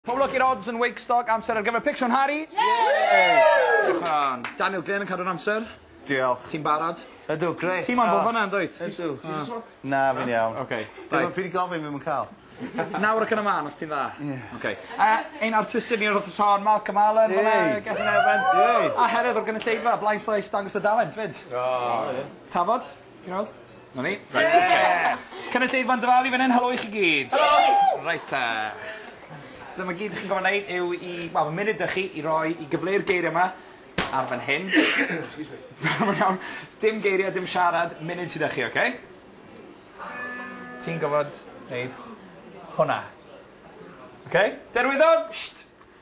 Poblogi'r odds yn Wakestock, amser ar gyfer picsio'n Harry? Yay! Daniel Glyn yn cadw'r amser. Diolch. Ti'n barod? Ydw, grêt. Ti moyn bod fanna yn dwyt? Ydw. Ti jyst moyn... Na, fi'n iawn. Oce. Dwi ddim... Fi 'di gofyn, fi'm yn ca'l. Nawr ac yn y man, os ti'n dda. Ie. Oce. A ein artistied ni o'r wthnos hon, Malcolm Allen fan 'na. Yay! Gethin Evans. Yay! A Heredd o'r gynulleidfa, Blaen Slaes, dangos dy dalent 'fyd. O! Tafod? Ti'n weld? 'Na ni. Reit oce. Cynulleidfa'n dy fal i fyn 'yn. Helo i chi gyd. Helo! Reit 'te. Dyma gyd 'dych chi'n gorfo' neud yw i wel ma' munud 'dych chi i roi i gyfleu'r geirie 'ma ar fan hyn. Excuse me. Na ma'n iawn. Dim geirie dim siarad munud sy 'dych chi oce? Ti'n gorfod neud hwnna. Oce? Derwyddon! Sht!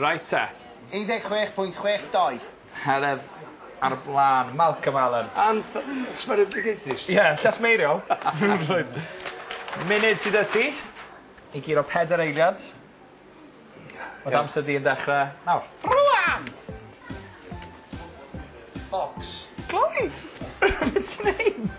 Reit te. 16.62. Heledd ar y blaen. Malcolm Allen. Anth- sbardugaethus. Ie, llasmeiriol. Munud sy 'da ti i guro pedair eiliad. Ma' dy amser di yn dechre nawr. Rŵan! Bocs. Gloi! Be' ti'n neud?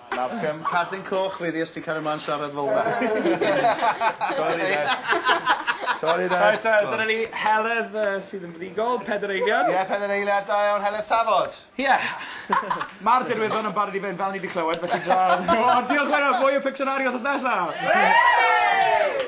Nawr cam cardyn coch fi ddi os ti'n cario mlan siarad fel 'na. Sori Ned. Sori Ned. Reit te dyna ni Heledd yy sydd yn fuddugol, peder eiliad. Ie peder eiliad da iawn Heledd Tafod. Ie. Ma'r dirwyddon yn barod i fynd fel ni 'di clywed felly draw. O diolch Wena mwy o Pictionary wthnos nesa! Wei!